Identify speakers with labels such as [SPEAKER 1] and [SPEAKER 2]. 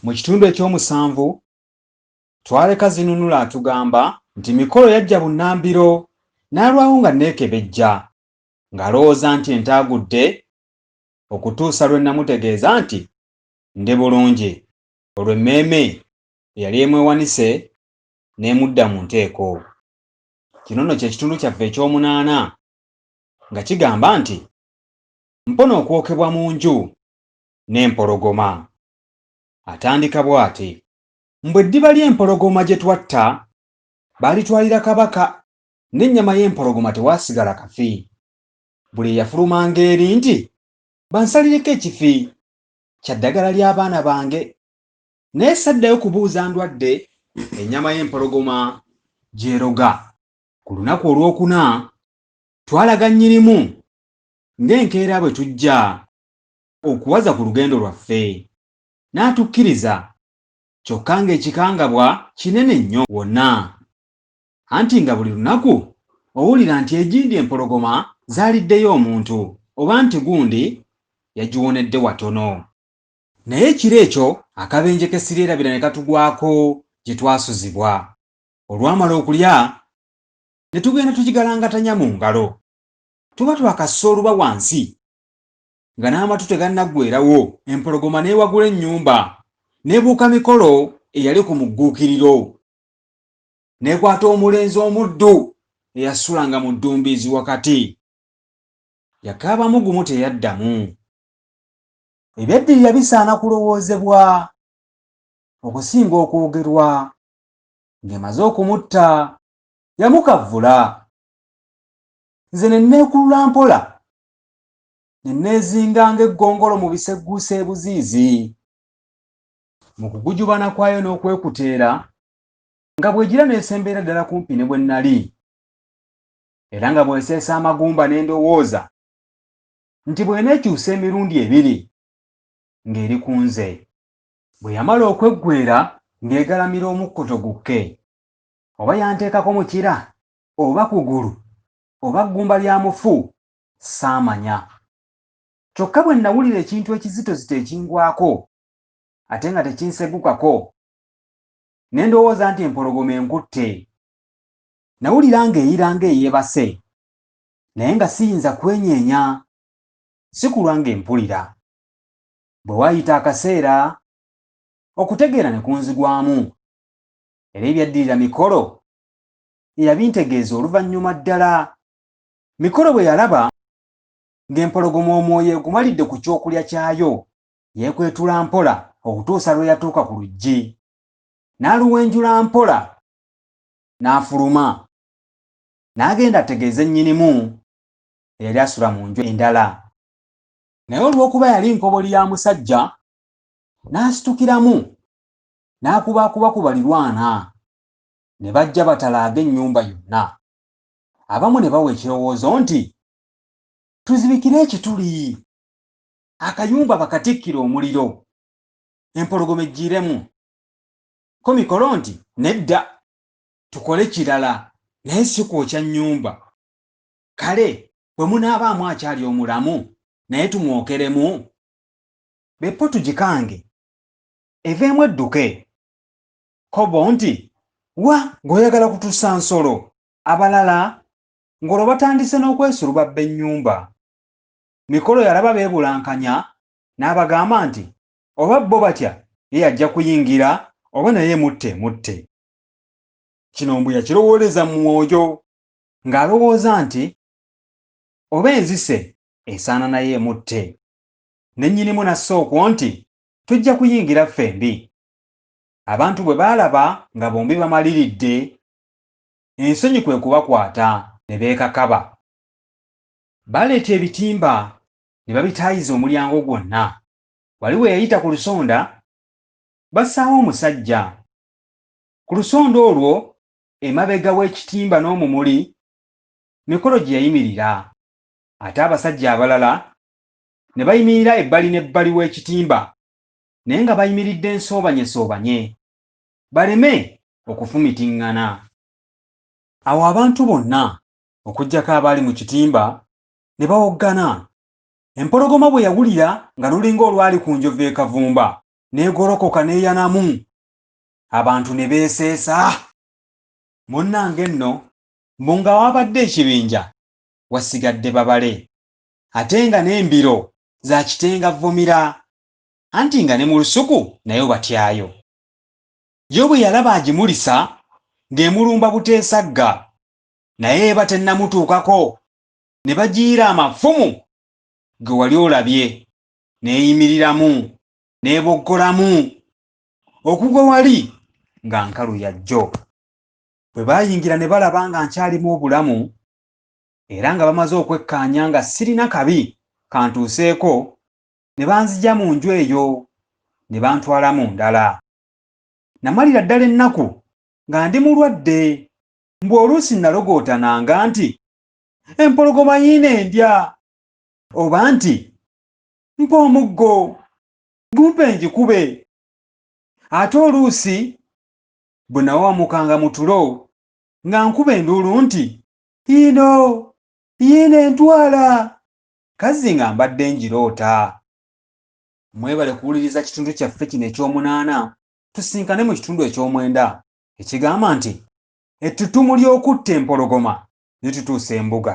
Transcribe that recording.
[SPEAKER 1] Mu kitundu eky'omusanvu, Twareka Zinunula atugamba nti Mikolo yajja bunnambiro n'alwawo nga nneekebejja ng'alowooza nti entaagudde okutuusa lwe nnamutegeeza nti ndi bulungi olwo emmeeme eyali emwewanise n'emudda mu nteeko. Kino nno kye kitundu kyaffe eky'omunaana nga kigamba nti, Mpona okwokebwa mu nju n'empologoma. Atandika bw'ati, Mbu eddiba ly'empologoma gye twatta, baalitwalira kabaka, n'ennyama y'empologoma tewaasigala kafi. Buli eyafulumanga eri nti, Bansalireko ekifi kya ddagala ly'abaana bange, naye saddayo kubuuza ndwadde ennyama y'empologoma gy'eroga. Ku lunaku olwokuna, twalaga Nnyinimu ng'enkeera bwe tujja okuwaza ku lugendo lwaffe n'atukkiriza kyokka ng'ekikangabwa kinene nnyo wonna anti nga buli lunaku owulira nti egindi empologoma zaaliddeyo omuntu oba nti gundi yagiwonedde watono naye ekiro ekyo akabenje k'essiryerabira ne katugwako gye twasuzibwa olwamala okulya ne tugenda tugigalangatanya mu ngalo tuba twakassa oluba wansi nga n'amatu tegannaggwerawo empologoma n'ewagula ennyumba n'ebuuka mikolo eyali ku mugguukiriro n'ekwata omulenzi omuddu eyasulanga mu ddumbiizi wakati yakaabamu gumu teyaddamu ebyaddirira bisaana kulowoozebwa okusinga okwogerwa ng'emaze okumutta yamukavvula nze ne nneekulula mpola ne neezinga ng'eggongolo mu bisegguusa ebuziizi. Mu kugujubana kwayo n'okwekuteera, nga bw'egira n'esemberera ddala kumpi ne bwe nnali, era nga bw'eseesa amagumba ne ndowooza nti bw'eneekyusa emirundi ebiri ng'eri ku nze. Bwe yamala okweggwera ng'egalamira omukkoto gukke, oba yanteekako mukira, oba kugulu, oba ggumba lya mufu, Ssaamanya. Kyokka bwe nnawulira ekintu ekizitozito ekingwako, ate nga tekinsegukako, ne ndowooza nti empologoma enkutte. Nnawulira ng'eyira ng'eyeebase, naye nga siyinza kwenyeenya. Sikulwa ng'empulira. Bwe waayita akaseera, okutegeera ne kunzigwamu, era ebyaddirira mikolo eyabintegeeza oluvannyuma ddala. Mikolo bwe yalaba ng'empologoma omwoyo egumalidde ku kyokulya kyayo, yeekwetula mpola okutuusa lwe yatuuka ku luggi. N'aluwenjula mpola n'afuluma. N'agenda ategeeze nnyinimu eyali asula mu nju endala. Naye olw'okuba yali nkoboli ya musajja, n'asitukiramu n'akubaakuba ku balirwana, ne bajja batalaage ennyumba yonna. abamu ne bawa ekirowoozo nti tuzibikire ekituli akayumba bakatikkire omuliro empologoma ejjiiremu ko mikolo nti nedda tukole kirala naye si kwokya nnyumba kale bwe munaabaamu akyali omulamu naye tumwokeremu beppo tugikange eveemu edduke kobo nti wa ng'oyagala kutusa nsolo abalala ng'olwo batandise n'okwesulubabba ennyumba. Mikolo yalaba beebulankanya n'abagamba nti oba bo batya ye yajja kuyingira oba naye emutte emutte. Kino mbu yakirowooleza mu mwoyo ng'alowooza nti oba enzise esaana naye emutte. Ne nnyinimu n'assa okwo nti tujja kuyingira ffembi. Abantu bwe baalaba nga bombi bamaliridde ensonyi kwe kubakwata ne beekakaba. Baaleeta ebitimba ne babitaayiza omulyango gwonna. Wali we yayita ku lusonda, bassaawo omusajja. Ku lusonda olwo emabega w'ekitimba n'omumuli, mikolo gye yayimirira. Ate abasajja abalala ne bayimirira ebbali n'ebbali w'ekitimba, naye nga bayimiridde nsoobanyesoobanye. baleme okufumitiŋŋana. Awo abantu bonna okuggyako abaali mu kitimba ne bawoggana. Empologoma bwe yawulira nga lulinga olwali ku njovu e Kavumba, n'egolokoka n'eyanamu. Abantu ne beeseesa. Munnange nno mbu nga waabadde ekibinja wasigadde babale ate nga n'embiro za kitenga vvumira anti nga ne mu lusuku nayo batyayo. Yo bwe yalaba agimulisa ng'emulumba buteesagga, naye eba tennamutuukako, ne bagiyiira amafumu ge wali olabye, n'eyimiriramu, n'eboggolamu, okugwa wali nga nkalu ya jjo. Bwe baayingira ne balaba nga nkyalimu obulamu, era nga bamaze okwekkaanya nga sirina kabi kantuuseeko, ne banzija mu nju eyo ne bantwala mu ndala. Namalira ddala ennaku nga ndi mulwadde, mbu oluusi nalogootananga nti empologoma yiino endya oba nti mpa omuggo gumpe ngikube ate oluusi bwe nawawamukanga mu tulo nga nkuba enduulu nti yiino yiino entwala Kazzi nga mbadde ngiroota. Mwebale kuwuliriza kitundu kyaffe kino eky'omunaana, tusinkane mu kitundu eky'omwenda ekigamba nti, Ettutumu ly'okutta empologoma litutuusa embuga.